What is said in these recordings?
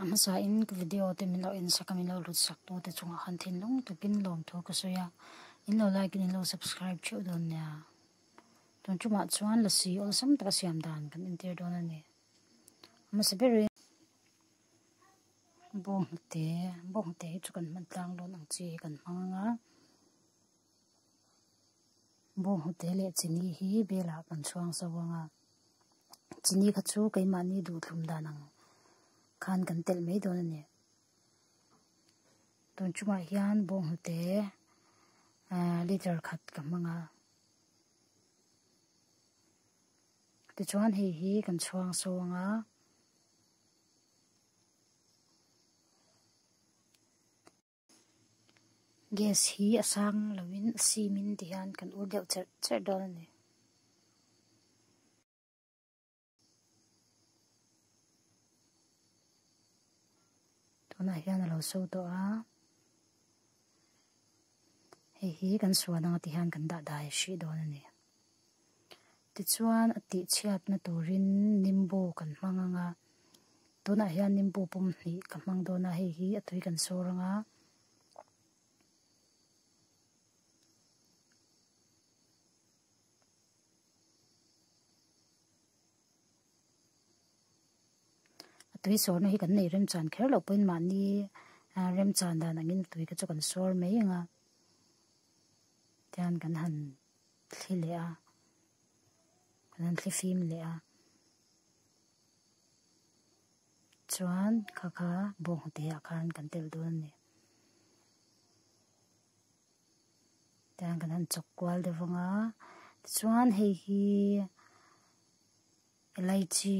A hmasa in ka video te min lo en sak a min lo lut sak tu te chung ah khan thinlung tuk in lawm thu ka sawi a in lo like in in lo subscribe theuh dawn nia tun chung ah chuan la si awlsam taka siam dan kan entir dawn a ni a hmasa ber in bo hnute bo hnute hi chu kan hman tlang dawn ang chi kan hmang anga Bawnghnute leh chini hi belah kan chhuang sa vang a, chini kha chu keimahni duhtlum dan ang khan kan telh mai dawn a ni. Tun chungah hian bawnghnute ah liter khat ka hmang a. Tichuan hei hi kan chhuang sa vang a. Gas hi a sang loin a sim in ti hian kan ur deuh cherh cherh dawn a ni. Tunah hian a lo so tawh a. Hei hi kan suan ang a ti hian kan dah dai hrih dawn a ni. Tichuan a tihchhiatna turin Nimbu kan hmang ang a, tunah hian Nimbu pum hnih ka hmang dawn a, hei hi a tui kan sâwr ang a. A tui sâwrna hi kan neih rem chân kher loh pawhin mahni rem chân dan angin a tui te chu kan sâwr mai ang a, tichuan kan han. thli leh a, kan han thli fim leh a. Chuan kha kha bawk nghute ah khan kan telh dawn a ni. Tichuan kan han chawk kual deuh vang a. Tichuan hei hi elaichi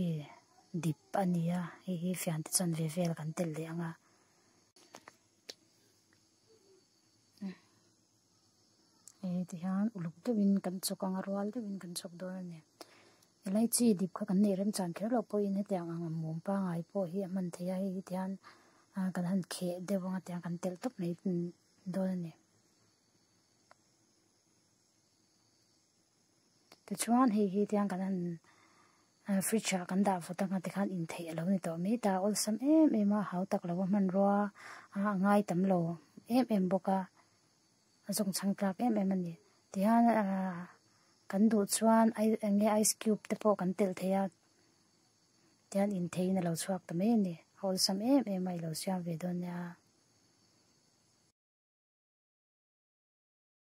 dip a ni a, hei hi fian te chuan ve vel kan telh leh ang a. Hei te hian uluk deuhin kan chawk ang a rual deuhin kan chawk dawn a ni elachi dip kha kan neih remchang kher loh pawhin hetiang ang ang a mum pangai pawh hi a hman thei a hei hi te hian ah kan han kheh deuh ang tia kan telh tawp mai dawn a ni. Tichuan hei hi tiang kan han ah fridge ah kan dah fut anga tikhan intheih alo ni tawh mai ta awlsam em em a hau tak lo a hmanrua a a ngai tam lo em em bawk a a zawng chhang tlak em em a ni tihian ah kan duh chuan ai enge ice cube te pawh kan telh thei a tihian intheiin alo chhuak ta mai a ni a awlsam em em a i lo siam ve dawn nia.